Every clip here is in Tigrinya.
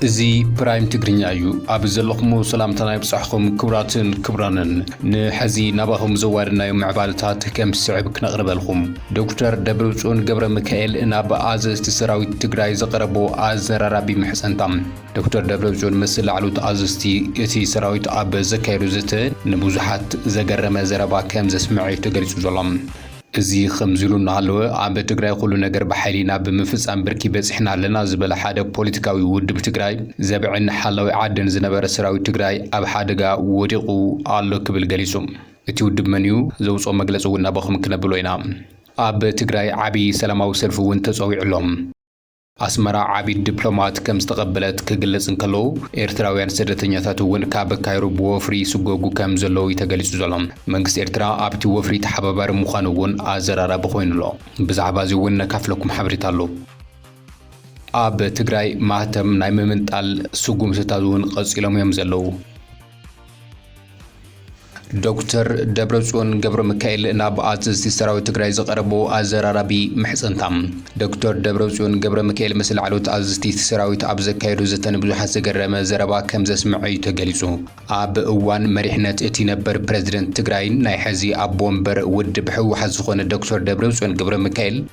እዚ ፕራይም ትግርኛ እዩ ኣብ ዘለኹም ሰላምታና ይብጻሕኹም ክብራትን ክብራንን ንሐዚ ናባኹም ዘዋድናዮ ምዕባለታት ከም ዝስዕብ ክነቕርበልኹም ዶክተር ደብረጽዮን ገብረ ሚካኤል ናብ ኣዘዝቲ ሰራዊት ትግራይ ዘቐረቦ ኣዘራራቢ ምሕጸንታ ዶክተር ደብረጽዮን ምስ ላዕሉ ተኣዘዝቲ እቲ ሰራዊት ኣብ ዘካየዶ ዘተ ንብዙሓት ዘገረመ ዘረባ ከም ዘስምዐ'ዩ ተገሊጹ ዘሎ። እዚ ከምዚ ኢሉ እናሃለወ፣ ኣብ ትግራይ ኹሉ ነገር ብሓይሊ ናብ ምፍጻም ብርኪ በጺሕና ኣለና ዝበለ ሓደ ፖለቲካዊ ውድብ ትግራይ፣ ዘብዕን ሓላዊ ዓድን ዝነበረ ሰራዊት ትግራይ ኣብ ሓደጋ ወዲቑ ኣሎ ክብል ገሊጹ። እቲ ውድብ መን'ዩ? ዘውጽኦ መግለጺ'ውን ናባኹም ክነብሎ ኢና። ኣብ ትግራይ ዓብዪ ሰላማዊ ሰልፊ'ውን ተጸዊዑ'ሎ። ኣስመራ ዓቢድ ድፕሎማት ከም ዝተቐበለት ክግለጽ እንከሎ፣ ኤርትራውያን ስደተኛታት እውን ካብ ካይሮ ብወፍሪ ይስጎጉ ከም ዘለዉ እዩ ተገሊጹ ዘሎ። መንግስቲ ኤርትራ ኣብቲ ወፍሪ ተሓባባሪ ምዃኑ እውን ኣዘራራቢ ኮይኑ ኣሎ። ብዛዕባ እዚ እውን ነካፍለኩም ሓበሬታ ኣሎ። ኣብ ትግራይ ማህተም ናይ ምምንጣል ስጉምትታት እውን ቀጺሎም እዮም ዘለዉ። ዶክተር ደብረፅዮን ገብረሚካኤል ናብ ኣዘዝቲ ሰራዊት ትግራይ ዝቐረቦ ኣዘራራቢ ምሕፅንታ። ዶክተር ደብረፅዮን ገብረሚካኤል ምስ ላዕለዎት ኣዘዝቲ ሰራዊት ኣብ ዘካየዶ ዘተ ንብዙሓት ዘገረመ ዘረባ ከም ዘስምዐ እዩ ተገሊፁ። ኣብ እዋን መሪሕነት እቲ ነበር ፕረዚደንት ትግራይን ናይ ሕዚ ኣቦ ወንበር ውድብ ህወሓት ዝኾነ ዶክተር ደብረፅዮን ገብረሚካኤል፣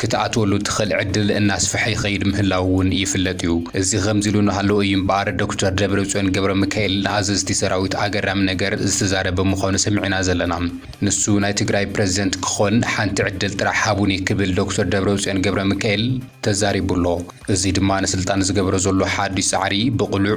ክትኣትወሉ እትኽእል ዕድል እናስፈሐ ይኸይድ ምህላዉ እውን ይፍለጥ እዩ። እዚ ከምዚ ኢሉ እናሃለወ እዩ እምበኣር ዶክተር ደብረፅዮን ገብረሚካኤል ንኣዘዝቲ ሰራዊት ኣገራሚ ነገር ዝተዛረበ ምዃኑ ሰሚዕና ዘለና። ንሱ ናይ ትግራይ ፕረዚደንት ክኾን ሓንቲ ዕድል ጥራሕ ሃቡኒ ክብል ዶክተር ደብረፅዮን ገብረሚካኤል ተዛሪቡ ኣሎ። እዚ ድማ ንስልጣን ዝገብሮ ዘሎ ሓዱሽ ፃዕሪ ብቕሉዕ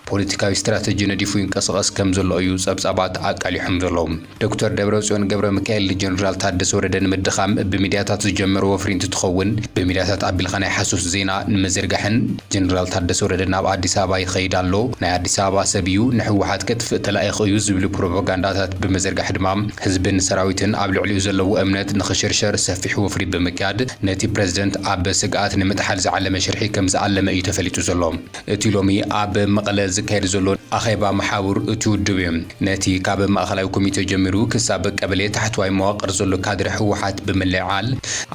ፖለቲካዊ ስትራተጂ ነዲፉ ይንቀስቐስ ከም ዘሎ እዩ ጸብጻባት ኣቃሊሖም ዘለዉ። ዶክተር ደብረጽዮን ገብረሚካኤል ንጀነራል ታደሰ ወረደ ንምድኻም ብሚድያታት ዝጀመሮ ወፍሪ እንትትኸውን ብሚድያታት ኣቢልካ ናይ ሓሶት ዜና ንምዝርጋሕን ጀነራል ታደሰ ወረደ ናብ ኣዲስ ኣበባ ይኸይድ ኣሎ ናይ ኣዲስ ኣበባ ሰብ እዩ ንህወሓት ከጥፍእ ተላኢኹ እዩ ዝብሉ ፕሮፖጋንዳታት ብምዝርጋሕ ድማ ህዝብን ሰራዊትን ኣብ ልዕሊኡ ዘለዎ እምነት ንኽሽርሸር ሰፊሕ ወፍሪ ብምክያድ ነቲ ፕረዚደንት ኣብ ስግኣት ንምጥሓል ዝዓለመ ሽርሒ ከም ዝኣለመ እዩ ተፈሊጡ ዘሎ። እቲ ሎሚ ኣብ መቐለ ዝካየድ ዘሎ ኣኼባ መሓውር እቲ ውድብ እዩ። ነቲ ካብ ማእኸላይ ኮሚቴ ጀሚሩ ክሳብ ቀበሌ ታሕተዋይ መዋቕር ዘሎ ካድረ ህወሓት ብምልዕዓል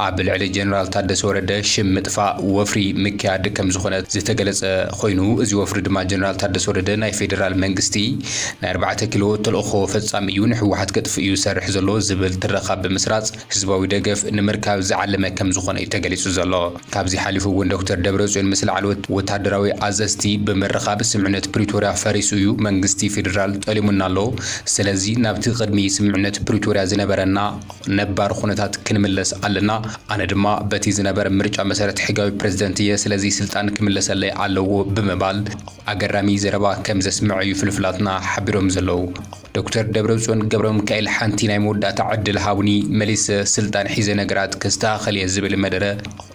ኣብ ልዕሊ ጀነራል ታደሰ ወረደ ሽም ምጥፋእ ወፍሪ ምክያድ ከምዝኾነ ዝተገለፀ ኾይኑ እዚ ወፍሪ ድማ ጀነራል ታደሰ ወረደ ናይ ፌደራል መንግስቲ ናይ ኣርባዕተ ኪሎ ተልእኾ ፈፃሚ እዩ ንህወሓት ከጥፍእ እዩ ዝሰርሕ ዘሎ ዝብል ትረኻ ብምስራፅ ህዝባዊ ደገፍ ንምርካብ ዝዓለመ ከምዝኾነ እዩ ተገሊፁ ዘሎ። ካብዚ ሓሊፉ እውን ዶክተር ደብረፅዮን ምስ ላዕለዎት ወታደራዊ ኣዘዝቲ ብምርኻብ ስምምዕነት ፕሪቶርያ ፈሪሱ እዩ፣ መንግስቲ ፌዴራል ጠሊሙና ኣሎ፣ ስለዚ ናብቲ ቅድሚ ስምምዕነት ፕሪቶርያ ዝነበረና ነባር ኹነታት ክንምለስ ኣለና፣ ኣነ ድማ በቲ ዝነበረ ምርጫ መሰረት ሕጋዊ ፕረዚደንት እየ፣ ስለዚ ስልጣን ክምለሰለይ ኣለዎ ብምባል ኣገራሚ ዘረባ ከምዘስምዐ እዩ ፍልፍላትና ሓቢሮም ዘለዉ። ዶክተር ደብረፅዮን ገብረምካኤል ሓንቲ ናይ መወዳእታ ዕድል ሃቡኒ መሊሰ ስልጣን ሒዘ ነገራት ከስተኻኽል እየ ዝብል መደረ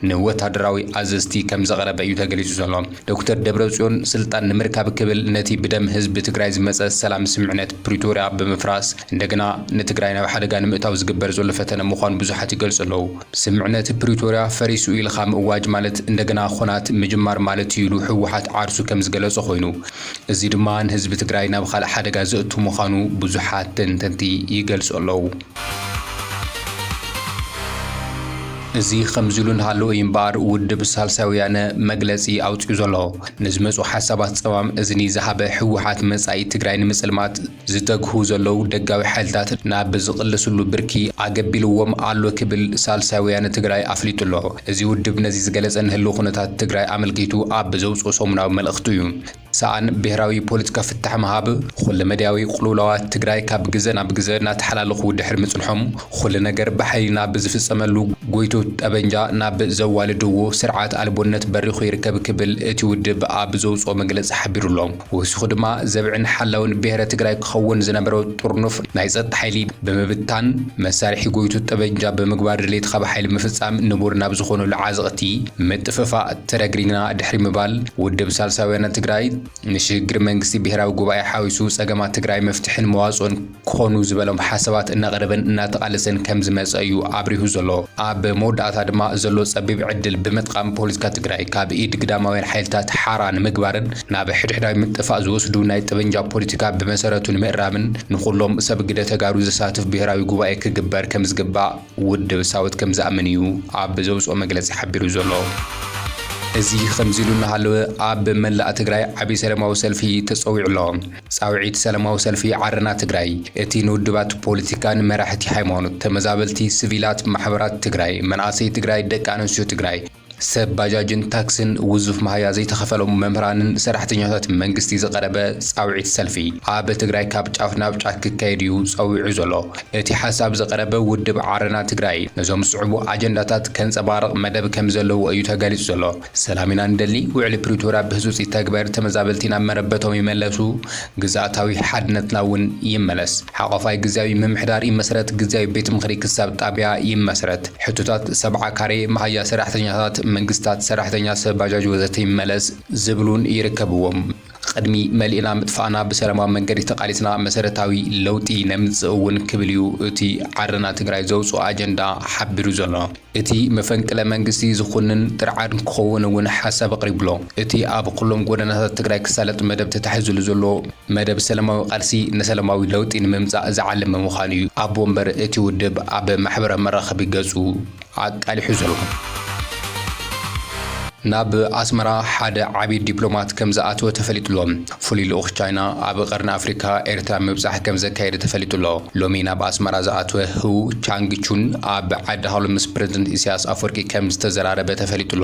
ንወታደራዊ ኣዘዝቲ ከምዘቕረበ እዩ ተገሊፁ ዘሎ። ዶክተር ደብረፅዮን ስልጣን ንምርካብ ክብል ነቲ ብደም ህዝቢ ትግራይ ዝመፀ ሰላም ስምምዕነት ፕሪቶርያ ብምፍራስ እንደገና ንትግራይ ናብ ሓደጋ ንምእታው ዝግበር ዘሎ ፈተነ ምዃኑ ብዙሓት ይገልፁ ኣለው። ስምምዕነት ፕሪቶርያ ፈሪሱ ኢልኻ ምእዋጅ ማለት እንደገና ኹናት ምጅማር ማለት እዩ ኢሉ ህወሓት ዓርሱ ከምዝገለፆ ኾይኑ፣ እዚ ድማ ንህዝቢ ትግራይ ናብ ኻልእ ሓደጋ ዘእቱ ምዃኑ ብዙሓት ተንተንቲ ይገልፁ ኣለው። እዚ ኸምዚሉ እናሃለወ እዩ እምበኣር ውድብ ሳልሳይ ወያነ መግለፂ ኣውፂኡ ዘሎ። ንዝመፁ ሓሳባት ፀማም እዝኒ ዝሃበ ህወሓት መፃኢ ትግራይ ንምፅልማት፣ ዝተግሁ ዘለዉ ደጋዊ ሓይልታት ናብ ዝቕልስሉ ብርኪ ኣገቢልዎም ኣሎ ክብል ሳልሳይ ወያነ ትግራይ ኣፍሊጡ ኣሎ። እዚ ውድብ ነዚ ዝገለፀ ንህልው ኩነታት ትግራይ ኣመልኪቱ ኣብ ዘውፅኦ ሰሙናዊ መልእኽቱ እዩ። ሰኣን ብሄራዊ ፖለቲካ ፍታሕ ምሃብ፣ ኹለመዳያዊ ቕልውላዋት ትግራይ ካብ ግዘ ናብ ግዘ እናተሓላለኹ ድሕሪ ምፅንሖም ኹሉ ነገር ብሓይሊ ናብ ዝፍፀመሉ ጎይቶት ጠበንጃ ናብ ዘዋልድዎ ስርዓት ኣልቦነት በሪኹ ይርከብ ክብል እቲ ውድብ ኣብ ዘውፅኦ መግለፂ ሓቢሩ ኣሎ። ወሲኹ ድማ ዘብዕን ሓላውን ብሄረ ትግራይ ክኸውን ዝነበሮ ጥርኑፍ ናይ ፀጥታ ሓይሊ ብምብታን መሳርሒ ጎይቱ ጠበንጃ ብምግባር ድሌት ኻብ ሓይሊ ምፍፃም ንቡር ናብ ዝኾኑሉ ዓዘቕቲ ምጥፍፋእ ተረግሪግና ድሕሪ ምባል ውድብ ሳልሳይ ወያነ ትግራይ ንሽግግር መንግስቲ ብሄራዊ ጉባኤ ሓዊሱ ፀገማት ትግራይ መፍትሕን መዋፅኦን ክኾኑ ዝበሎም ሓሳባት እናቐረበን እናተቓለሰን ከም ዝመጸ እዩ ኣብሪሁ ዘሎ። ኣብ መወዳእታ ድማ ዘሎ ጸቢብ ዕድል ብምጥቓም ፖለቲካ ትግራይ ካብ ኢድ ግዳማውያን ሓይልታት ሓራ ንምግባርን ናብ ሕድሕዳዊ ምጥፋእ ዝወስዱ ናይ ጠበንጃ ፖለቲካ ብመሰረቱ ንምእራምን ንኹሎም ሰብ ግደ ተጋሩ ዘሳትፍ ብሄራዊ ጉባኤ ክግበር ከም ዝግባእ ውድብ ሳወት ከም ዝኣምን እዩ ኣብ ዘውጽኦ መግለጺ ሓቢሩ ዘሎ። እዚ ከምዚ ኢሉ እናሃለወ ኣብ መላእ ትግራይ ዓብዪ ሰለማዊ ሰልፊ ተጸዊዑ ኣሎ። ጻውዒት ሰለማዊ ሰልፊ ዓረና ትግራይ እቲ ንውድባት ፖለቲካን መራሕቲ ሃይማኖት ተመዛበልቲ ስቪላት ማሕበራት ትግራይ መናእሰይ ትግራይ ደቂ ኣነስትዮ ትግራይ ሰብ ባጃጅን ታክስን ውዙፍ መሃያ ዘይተኸፈሎም መምህራንን ሰራሕተኛታት መንግስቲ ዝቐረበ ጻውዒት ሰልፊ ኣብ ትግራይ ካብ ጫፍ ናብ ጫፍ ክካየድ እዩ ጸዊዑ ዘሎ እቲ ሓሳብ ዝቐረበ ውድብ ዓረና ትግራይ ነዞም ዝስዕቡ ኣጀንዳታት ከንጸባርቕ መደብ ከምዘለዎ እዩ ተገሊጹ ዘሎ ሰላም ኢና ንደሊ፣ ውዕሊ ፕሪቶርያ ብህጹጽ ይተግበር፣ ተመዛበልቲ ናብ መረበቶም ይመለሱ፣ ግዝኣታዊ ሓድነትና እውን ይመለስ፣ ሓቋፋይ ግዝያዊ ምምሕዳር ይመስረት፣ ግዝያዊ ቤት ምኽሪ ክሳብ ጣብያ ይመስረት፣ ሕቶታት ሰብዓ ካሬ፣ መሃያ ሰራሕተኛታት መንግስታት፣ ሰራሕተኛ ሰብ ባጃጅ ወዘተ ይመለስ ዝብሉን ይርከብዎም። ቕድሚ መሊእና ምጥፋእና ብሰላማዊ መንገዲ ተቓሊስና መሰረታዊ ለውጢ ነምፅእ እውን ክብል እዩ እቲ ዓረና ትግራይ ዘውፅኦ ኣጀንዳ ሓቢሩ ዘሎ። እቲ መፈንቅለ መንግስቲ ዝኹንን ጥርዓን ክኸውን እውን ሓሳብ ኣቕሪቡ'ሎ። እቲ ኣብ ኹሎም ጎደናታት ትግራይ ክሳለጥ መደብ ተታሒዙሉ ዘሎ መደብ ሰላማዊ ቓልሲ ንሰላማዊ ለውጢ ንምምፃእ ዝዓለመ ምዃኑ እዩ ኣቦ ወንበር እቲ ውድብ ኣብ ማሕበራዊ መራኸቢ ገፁ ኣቃሊሑ ዘሎ። ናብ ኣስመራ ሓደ ዓቢ ዲፕሎማት ከም ዝኣተወ ተፈሊጡ'ሎ። ፍሉይ ልኡኽ ቻይና ኣብ ቀርኒ ኣፍሪካ ኤርትራ ምብጻሕ ከም ዘካየደ ተፈሊጡ'ሎ። ሎሚ ናብ ኣስመራ ዝኣተወ ህው ቻንግ ቹን ኣብ ዓዲ ሃሎ ምስ ፕረዚደንት ኢሳያስ ኣፍወርቂ ከም ዝተዘራረበ ተፈሊጡ'ሎ።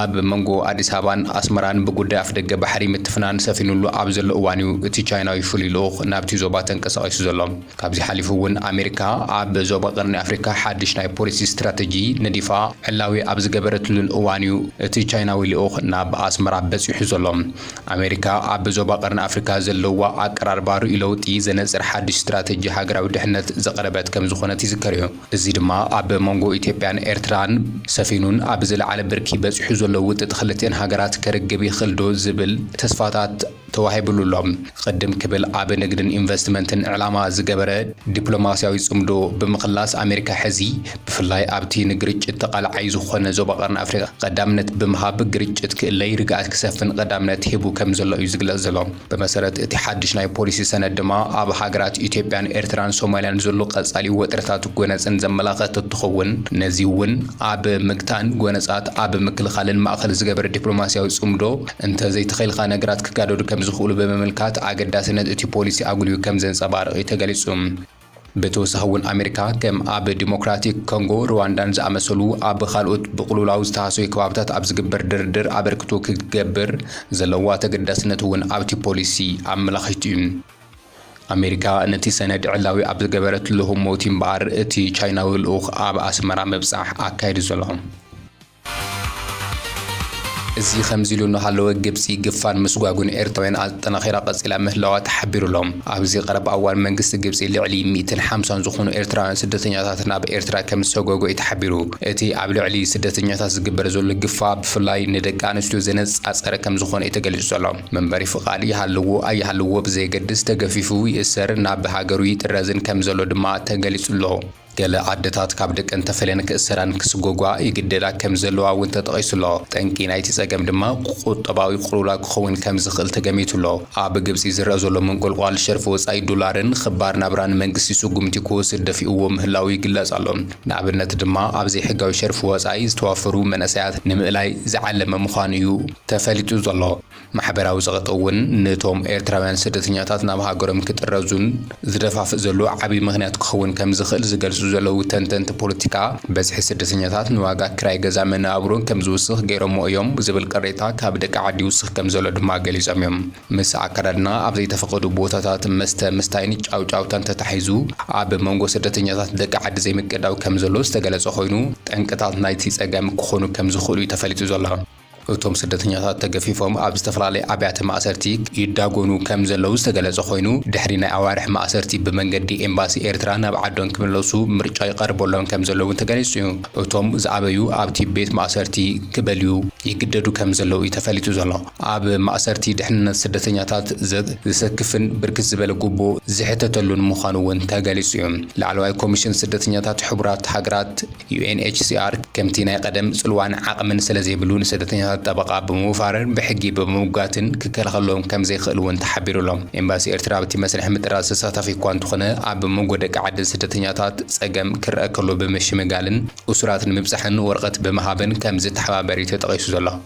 ኣብ መንጎ ኣዲስ ኣበባን ኣስመራን ብጉዳይ ኣፍደገ ባሕሪ ምትፍናን ሰፊኑሉ ኣብ ዘሎ እዋን'ዩ እቲ ቻይናዊ ፍሉይ ልኡኽ ናብቲ ዞባ ተንቀሳቒሱ ዘሎ። ካብዚ ሓሊፉ'ውን ኣሜሪካ ኣብ ዞባ ቀርኒ ኣፍሪካ ሓድሽ ናይ ፖሊሲ ስትራተጂ ነዲፋ ዕላዊ ኣብ ዝገበረትሉን እዋን'ዩ እቲ ቻይናዊ ልኡኽ ናብ ኣስመራ በጺሑ ዘሎ። ኣሜሪካ ኣብ ዞባ ቀርኒ ኣፍሪካ ዘለዋ ኣቀራርባ ርእዩ ለውጢ ዘነጽር ሓድሽ ስትራተጂ ሃገራዊ ድሕነት ዘቕረበት ከምዝኾነት ይዝከር'ዩ። እዚ ድማ ኣብ መንጎ ኢትዮጵያን ኤርትራን ሰፊኑን ኣብ ዝለዓለ ብርኪ በጺሑ ዘሎ ውጥጥ ክልቲኤን ሃገራት ከርግብ ይኽእልዶ ዝብል ተስፋታት ተዋሂብሉ ኣሎ። ቅድም ክብል ኣብ ንግድን ኢንቨስትመንትን ዕላማ ዝገበረ ዲፕሎማስያዊ ጽምዶ ብምኽላስ ኣሜሪካ ሕዚ ብፍላይ ኣብቲ ንግርጭት ተቓላዓይ ዝኾነ ዞባ ቀርኒ ኣፍሪቃ ቀዳምነት ብምሃብ ግርጭት ክእለይ ርግኣት ክሰፍን ቀዳምነት ሂቡ ከምዘሎ እዩ ዝግለጽ ዘሎ። ብመሰረት እቲ ሓድሽ ናይ ፖሊሲ ሰነድ ድማ ኣብ ሃገራት ኢትዮጵያን ኤርትራን ሶማልያን ዘሎ ቀጻሊ ወጥርታት ጎነጽን ዘመላኸት እትኸውን ነዚ እውን ኣብ ምግታእን ጎነጻት ኣብ ምክልኻልን ማእኸል ዝገበረ ዲፕሎማሲያዊ ጽምዶ እንተዘይተኸልካ ነገራት ክጋደዱ ከምዝኽእሉ ብምምልካት ኣገዳስነት እቲ ፖሊሲ ኣጉሊሁ ከምዘንጸባርቕ እዩ ተገሊጹ። ብተወሳኺ እውን ኣሜሪካ ከም ኣብ ዲሞክራቲክ ኮንጎ፣ ርዋንዳን ዝኣመሰሉ ኣብ ካልኦት ብቕልውላው ዝተሃሰዩ ከባብታት ኣብ ዝግበር ድርድር ኣበርክቶ ክትገብር ዘለዋ ተገዳስነት እውን ኣብቲ ፖሊሲ ኣመላኺቱ እዩ። ኣሜሪካ ነቲ ሰነድ ዕላዊ ኣብ ዝገበረትሉ ህሞት እዩ እምበኣር እቲ ቻይናዊ ልኡኽ ኣብ ኣስመራ ምብጻሕ ኣካይዱ ዘሎ። እዚ ከምዚሉ እናሃለወ ግብጺ ግፋን ምስጓጕን ኤርትራውያን ኣጠናኺራ ቀጺላ ምህላዋ ተሓቢሩ'ሎ። ኣብዚ ቀረባ እዋን መንግስቲ ግብጺ ልዕሊ ሚእትን ሓምሳን ዝኾኑ ኤርትራውያን ስደተኛታት ናብ ኤርትራ ከምዝሰጐጐ'ዩ ተሓቢሩ። እቲ ኣብ ልዕሊ ስደተኛታት ዝግበር ዘሎ ግፋ ብፍላይ ንደቂ ኣንስትዮ ዘነጻጸረ ከምዝኾነ'ዩ ተገሊጹ ዘሎ። መንበሪ ፍቓድ ይሃልዎ ኣይሃልዎ ብዘየገድስ ተገፊፉ ይእሰርን ናብ ሃገሩ ይጥረዝን ከምዘሎ ድማ ተገሊጹ'ሎ። ገለ ኣደታት ካብ ደቀን ተፈልየን ክእሰራን ክስጐጓ ይግደዳ ከም ዘለዋ እውን ተጠቒሱ ኣሎ። ጠንቂ ናይቲ ጸገም ድማ ቍጠባዊ ቅልውላው ክኸውን ከም ዝኽእል ተገሚቱ ኣሎ። ኣብ ግብጺ ዝረኣ ዘሎ ምንቍልቋል ሸርፊ ወጻኢ ዶላርን ኽባር ናብራን መንግስቲ ስጕምቲ ክወስድ ደፊኡዎ ምህላዉ ይግለጽ ኣሎ። ንኣብነት ድማ ኣብ ዘይሕጋዊ ሸርፊ ወጻኢ ዝተዋፈሩ መንእሰያት ንምእላይ ዝዓለመ ምዃኑ እዩ ተፈሊጡ ዘሎ። ማሕበራዊ ጸቕጢ እውን ንቶም ኤርትራውያን ስደተኛታት ናብ ሃገሮም ክጥረዙን ዝደፋፍእ ዘሎ ዓቢ ምኽንያት ክኸውን ከምዝኽእል ዝገልጹ ዘለዉ ተንተንቲ ፖለቲካ፣ በዝሒ ስደተኛታት ንዋጋ ክራይ ገዛ መነባብሮ ከምዝውስኽ ገይሮሞ እዮም ዝብል ቅሬታ ካብ ደቂ ዓዲ ይውስኽ ከምዘሎ ድማ ገሊጾም እዮም። ምስ ኣከዳድና ኣብ ዘይተፈቐዱ ቦታታት መስተ ምስታይን ጫውጫውታን ተታሒዙ ኣብ መንጎ ስደተኛታት ደቂ ዓዲ ዘይምቅዳው ከምዘሎ ዝተገለጸ ኮይኑ፣ ጠንቅታት ናይቲ ጸገም ክኾኑ ከምዝኽእሉ እዩ ተፈሊጡ ዘሎ። እቶም ስደተኛታት ተገፊፎም ኣብ ዝተፈላለየ ኣብያተ ማእሰርቲ ይዳጎኑ ከም ዘለዉ ዝተገለጸ ኮይኑ፣ ድሕሪ ናይ ኣዋርሕ ማእሰርቲ ብመንገዲ ኤምባሲ ኤርትራ ናብ ዓዶን ክምለሱ ምርጫ ይቐርበሎም ከም ዘሎ እውን ተገሊጹ እዩ። እቶም ዝኣበዩ ኣብቲ ቤት ማእሰርቲ ክበልዩ ይግደዱ ከም ዘለዉ እዩ ተፈሊጡ ዘሎ። ኣብ ማእሰርቲ ድሕንነት ስደተኛታት ዘሰክፍን ብርክት ዝበለ ጉቦ ዝሕተተሉን ምዃኑ እውን ተገሊጹ እዩ። ላዕለዋይ ኮሚሽን ስደተኛታት ሕቡራት ሃገራት፣ ዩኤንኤችሲኣር ከምቲ ናይ ቐደም ጽልዋን ዓቕምን ስለዘይብሉ ንስደተኛታት ጠበቓ ብምውፋርን ብሕጊ ብምምጓትን ክከላኸለሎም ከምዘይክእል እውን ተሓቢሩ'ሎ። ኤምባሲ ኤርትራ ኣብቲ መስርሕ ምጥራዝ ተሳታፊ እኳ እንተኾነ ኣብ መንጎ ደቂ ዓዲ ስደተኛታት ጸገም ክረኣ ከሎ ብምሽምጋልን እሱራት ንምብጻሕን ወረቐት ብምሃብን ከምዝተሓባበር'ዩ ተጠቒሱ ዘሎ።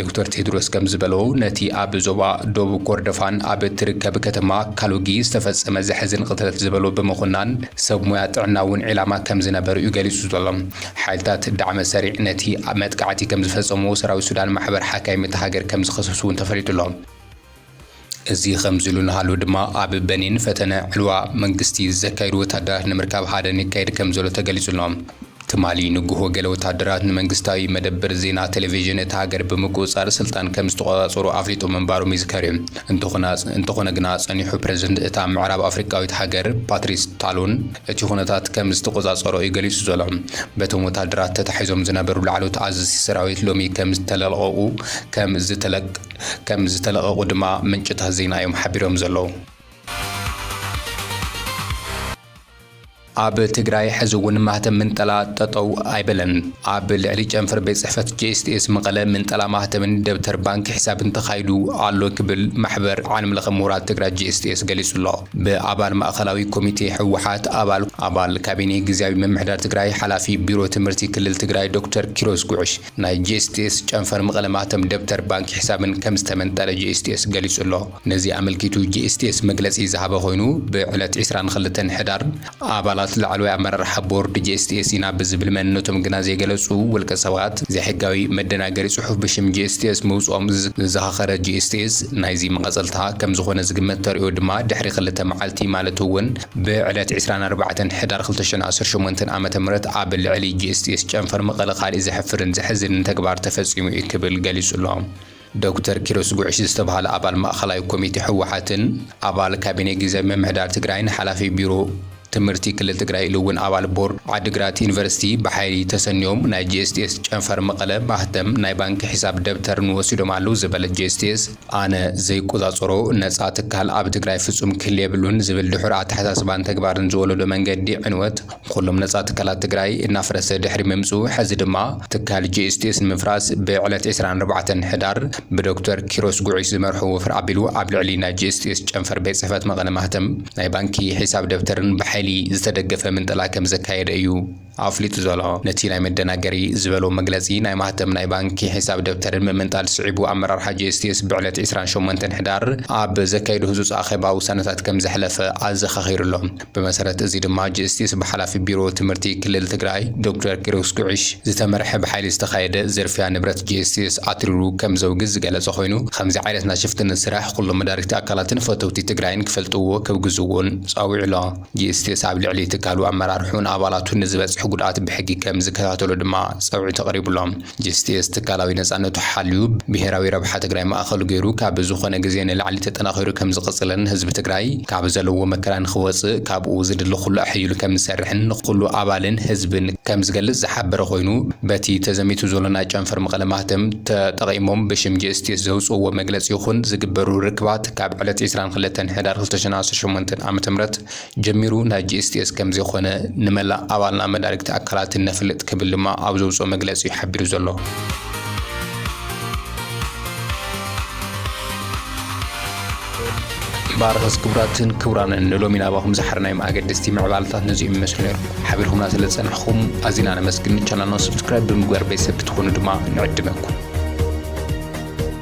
ዶክተር ቴድሮስ ከምዝበሎ፣ ነቲ ኣብ ዞባ ዶብ ኮርዶፋን ኣብ እትርከብ ከተማ ካሉጊ ዝተፈጸመ ዘሕዝን ቕትለት ዝበሎ ብምኹናን፣ ሰብ ሞያ ጥዕና እውን ዒላማ ከምዝነበሩ'ዩ ገሊጹ ዘሎ። ሓይልታት ዳዕመ-ሰሪዕ ነቲ መጥቃዕቲ ከምዝፈጸምዎ ሰራዊት ሱዳን ማሕበር ሓካይም እታ ሃገር ከምዝኸሰሱ'ውን ተፈሊጡ'ሎ። እዚ ከምዚሉ እናሃሉ ድማ ኣብ በኒን ፈተነ ዕልዋ መንግስቲ ዘካይዱ ወታደራት ንምርካብ ሃደን ይካየድ ከምዘሎ ተገሊጹ'ሎ። ትማሊ ንጉሆ ገለ ወታደራት ንመንግስታዊ መደብር ዜና ቴሌቪዥን እታ ሃገር ብምቁጽጻር ስልጣን ከምዝተቆጻጸሩ ኣፍሊጦም ምንባሮም ይዝከር'ዩ። እንተኾነ ግና ጸኒሑ ፕረዚደንት እታ ምዕራብ ኣፍሪቃዊት ሃገር ፓትሪስ ታሎን እቲ ኩነታት ከምዝተቆጻጸሮ'ዩ ገሊጹ ዘሎ። በቶም ወታደራት ተታሒዞም ዝነበሩ ላዕለዎት ኣዘዝቲ ሰራዊት ሎሚ ከምዝተለቀቁ ከም ዝተለቐቑ ድማ ምንጭታት ዜና እዮም ሓቢሮም ዘለዉ። ኣብ ትግራይ ሕዚ እውን ማህተም ምንጠላ ጠጠው ኣይበለን። ኣብ ልዕሊ ጨንፈር ቤት ፅሕፈት ጄኤስቲኤስ መቐለ ምንጠላ ማህተምን ደብተር ባንክ ሒሳብን ተኻይዱ ኣሎ ክብል ማሕበር ዓለም ለኸ ምሁራት ትግራይ ጄኤስቲኤስ ገሊፁ ኣሎ። ብኣባል ማእኸላዊ ኮሚቴ ህወሓት፣ ኣባል ኣባል ካቢኔ ግዝያዊ ምምሕዳር ትግራይ፣ ሓላፊ ቢሮ ትምህርቲ ክልል ትግራይ ዶክተር ኪሮስ ጉዕሽ ናይ ጂኤስቲኤስ ጨንፈር መቐለ ማህተም ደብተር ባንኪ ሕሳብን ከም ዝተመንጠለ ጂኤስቲኤስ ገሊጹ ኣሎ። ነዚ ኣመልኪቱ ጂኤስቲኤስ መግለጺ ዝሃበ ኮይኑ ብዕለት ዕስራን ክልተን ሕዳር ኣባላት ላዕለዋይ ኣመራርሓ ቦርድ ጂኤስቲኤስ ኢና ብዝብል መንነቶም ግና ዘይገለጹ ውልቀ ሰባት ዘይሕጋዊ መደናገሪ ጽሑፍ ብሽም ጂኤስቲኤስ ምውጽኦም ዘዘኻኸረ ጂኤስቲኤስ ናይዚ መቐጸልታ ከም ዝኾነ ዝግመት ተርእዮ ድማ ድሕሪ ክልተ መዓልቲ ማለት'ውን ብዕለት ዕስራን ኣርባዕተን ሕዳር ክልተ ሽሕን ዓሰርተ ሸሞንተ ዓመተ ምህረት ኣብ ልዕሊ ጂኤስቲኤስ ጨንፈር መቐለ ካሊእ ዘሕፍርን ዘሕዝንን ተግባር ተፈፂሙ እዩ ክብል ገሊፁ'ሎ። ዶክተር ኪሮስ ጉዕሽ ዝተብሃለ ኣባል ማእኸላይ ኮሚቴ ህወሓትን ኣባል ካቢኔ ጊዚያዊ ምምሕዳር ትግራይን ሓላፊ ቢሮ ትምህርቲ ክልል ትግራይ ኢሉ እውን ኣባል ቦርድ ዓዲግራት ዩኒቨርሲቲ ብሓይሊ ተሰንዮም ናይ ጂኤስቲኤስ ጨንፈር መቐለ ማህተም ናይ ባንኪ ሒሳብ ደብተርን ወሲዶም ኣለው ዝበለ ጂኤስቲኤስ ኣነ ዘይቆጻጸሮ ነጻ ትካል ኣብ ትግራይ ፍጹም ክህሊ የብሉን ዝብል ድሑር ኣተሓሳስባን ተግባርን ዝወለዶ መንገዲ ዕንወት ንኹሎም ነጻ ትካላት ትግራይ እናፍረሰ ድሕሪ ምምጽኡ ሕዚ ድማ ትካል GSTS ንምፍራስ ብዕለት ዕስራን ኣርባዕተን ሕዳር ብዶክተር ኪሮስ ጉዑሽ ዝመርሖ ወፍሪ ኣቢሉ ኣብ ልዕሊ ናይ GSTS ጨንፈር ቤት ጽሕፈት መቐለ ማህተም ናይ ባንኪ ሒሳብ ደብተርን ብሓይሊ ዝተደገፈ ምንጠላ ከምዘካየደ እዩ ኣፍሊጡ ዘሎ። ነቲ ናይ መደናገሪ ዝበሎ መግለጺ ናይ ማህተም ናይ ባንኪ ሒሳብ ደብተርን ምምንጣል ስዒቡ ኣመራርሓ GSTS ብዕለት ዕስራን ሸሞንተን ሕዳር ኣብ ዘካየዶ ህጹጽ ኣኼባ ውሳነታት ከምዘሕለፈ ኣዘኻኺሩ ኣሎ። ብመሰረት እዚ ድማ GSTS ብሓላፊ ቢሮ ትምህርቲ ክልል ትግራይ ዶክተር ኪሮስ ጉዕሽ ዝተመርሐ ብሓይሊ ዝተኻየደ ዝርፍያ ንብረት GSTS ኣትሪሩ ከምዘውግዝ ዝገለጸ ኮይኑ ኸምዚ ዓይነት ናይ ሽፍትነት ስራሕ ኩሎም መዳርግቲ ኣካላትን ፈተውቲ ትግራይን ክፈልጥዎ ከውግዝዎን ጻዊዑ ኣሎ። ጂስቲስ ኣብ ልዕሊ ትካሉ ኣመራርሑን ኣባላቱን ንዝበፅሕ ጉድኣት ብሕጊ ከም ዝከታተሎ ድማ ፀውዒት ኣቕሪቡሎም። ጂስቲስ ትካላዊ ነፃነቱ ሓልዩ ብሄራዊ ረብሓ ትግራይ ማእኸሉ ገይሩ ካብ ዝኾነ ግዜ ንላዕሊ ተጠናኺሩ ከም ዝቕፅልን ህዝቢ ትግራይ ካብ ዘለዎ መከራ ንኽወፅእ ካብኡ ዝድለ ኩሉ ኣሐይሉ ከም ዝሰርሕን ንኹሉ ኣባልን ህዝብን ከም ዝገልፅ ዝሓበረ ኮይኑ በቲ ተዘሚቱ ዘሎ ናይ ጨንፈር መቐለ ማህተም ተጠቒሞም ብሽም ጂስቲስ ዘውፅእዎ መግለፂ ይኹን ዝግበሩ ርክባት ካብ ዕለት ዕስራን ክልተን ሕዳር ክልተሽን ዓሰርተ ሸሞንተ ዓመተ ምህረት ጀሚሩ ናይ GSTS ከምዘይኾነ ንመላእ ኣባልና መዳርግቲ ኣካላትን ነፍልጥ ክብል ድማ ኣብ ዘውፅኦ መግለፂ ዩ ሓቢሩ ዘሎ። ባርኸስ ክቡራትን ክቡራንን ንሎሚ ናባኹም ዝሓርናዮም ኣገደስቲ ምዕባለታት ነዚኦም ይመስሉ ነይሩ ሓቢርኩምና ስለ ዝጸናሕኹም ኣዚና ነመስግን ቻናልና ሰብስክራይብ ብምግባር ቤተሰብ ክትኾኑ ድማ ንዕድመኩም